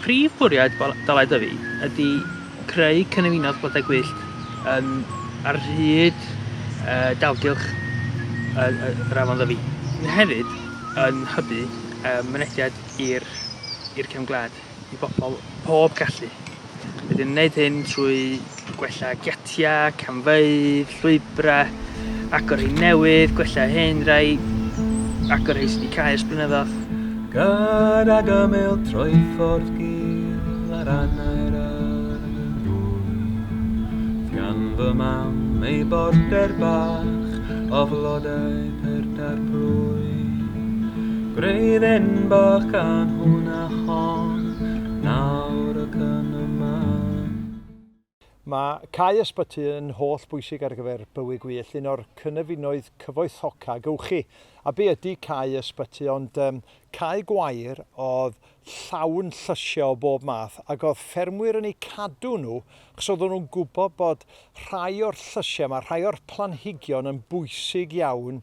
Prif fwriad Dalai Dyfi ydy creu cynefinoedd blodau gwyllt yn ar hyd dalgylch yr afon Ddyfi, sydd hefyd yn hybu mynediad i'r cefn gwlad. i bobl pob gallu. Rydyn yn gwneud hyn trwy gwella giatiau, camfeydd, llwybrau, agor rhai newydd, gwella hyn rhai, agor rhai sydd wedi cael ers blynyddoedd. Gad ag ymyl trwy ffordd gil ar anau'r arglwydd, gan fy mam ei border bach o flodau perda'r plwyf. Gwreiddyn bach gan hwnna hon, nawr ac yn y man. Mae cau ysbyty yn holl bwysig ar gyfer bywyd gwyllt, un o'r cynefinoedd cyfoethoca gewch chi. A be ydy cau ysbyty ond um, cau gwair oedd llawn llysiau o bob math ac oedd ffermwyr yn eu cadw nhw achos oedden nhw'n gwybod bod rhai o'r llysiau yma, rhai o'r planhigion yn bwysig iawn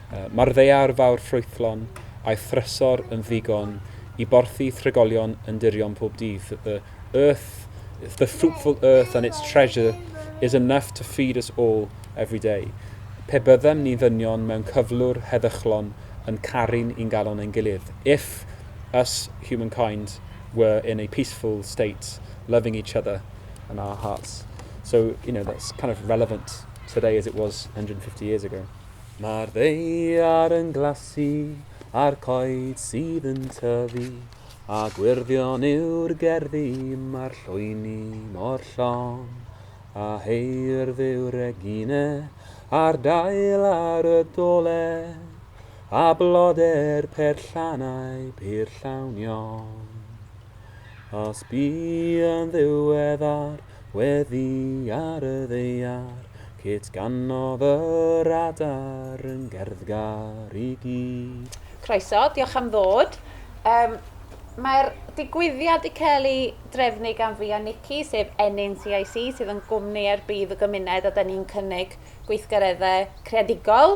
Mae'r ddaear fawr ffrwythlon a'i thrysor yn ddigon i borthi tregolion yn dirion pob dydd. The earth, the fruitful earth and its treasure is enough to feed us all every day. Pe byddem ni ddynion mewn cyflwr heddychlon yn caru'n ungalon ein gilydd, If us humankind were in a peaceful state, loving each other in our hearts. So, you know, that's kind of relevant today as it was 150 years ago. Mae'r ddaear yn glasu a'r coed sydd yn tyfu, a gwyrddion yw'r gerddi, mae'r llwyni mor llon, a heirdd yw Regine a'r dail ar y dolen, a blodau'r perllannau pur llawn iawn. Os bu yn ddiweddar Weddi ar y ddaear, Kate ganodd yr adar yn gerddgar i gyd. Croeso, diolch am ddod. Um, Mae'r digwyddiad wedi cael ei drefnu gan fi a Nikki, sef Ennyn CIC, sydd yn gwmni ar bydd y gymuned a da ni'n cynnig gweithgareddau creadigol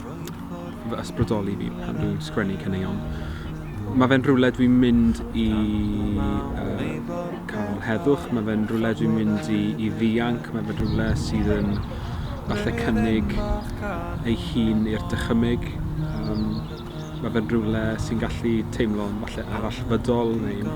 fy ysbrydoli fi pan dwi'n sgwennu caneuon. Mae fe'n rhywle dwi'n mynd i uh, cael heddwch, mae fe'n rhywle dwi'n mynd i, i ddianc, mae fe'n rhywle sydd yn falle cynnig ei hun i'r dychymyg. Um, mae fe'n rhywle sy'n gallu teimlo'n falle arallfydol neu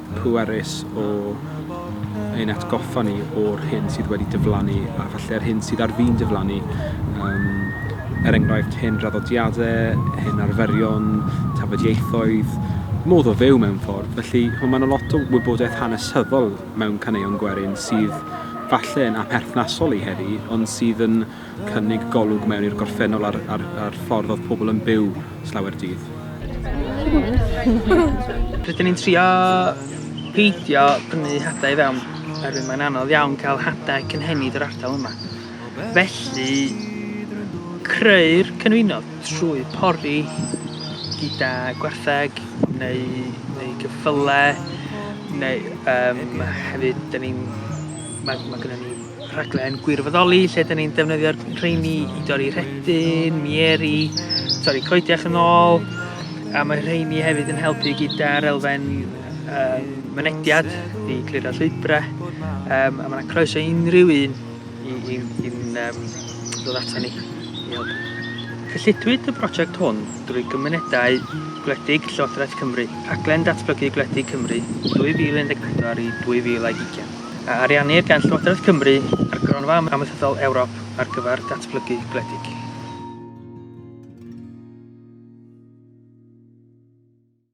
pwerus o ein atgoffa ni o'r hyn sydd wedi diflannu a falle'r hyn sydd ar fin diflannu. Um, er enghraifft, hyn draddodiadau, hyn arferion, tafodieithoedd, modd o fyw mewn ffordd. Felly, mae yna lot o wybodaeth hanesyddol mewn caneuon gwerin sydd falle yn aperthnasol i heddi, ond sydd yn cynnig golwg mewn i'r gorffennol a'r, a'r, a'r ffordd oedd pobl yn byw slawer dydd. Rydyn ni'n trio peidio prynu hadau i fewn, oherwydd mae'n anodd iawn cael hadau cynhenid yr ardal yma. Felly, creu'r cynwynodd trwy pori gyda gwartheg neu, neu gyffyle, neu um, hefyd, da ni'n... Mae, mae gennym ni rhaglen gwirfoddoli lle dyn ni'n defnyddio'r rheini i dorri rhedyn, mieri, torri coediach yn ôl, a mae rheini hefyd yn helpu gyda'r elfen um, mynediad i clirio llwybrau, um, a mae'n croeso unrhyw un i, i, i um, ddod ato ni i helpu. Cyllidwyd y prosiect hwn drwy gymunedau gwledig Llywodraeth Cymru, rhaglen datblygu gwledig Cymru 2014 i 2020. a ariannir gan Llywodraeth Cymru a'r Gronfa Amaethyddol Ewrop ar gyfer Datblygu Gwledig.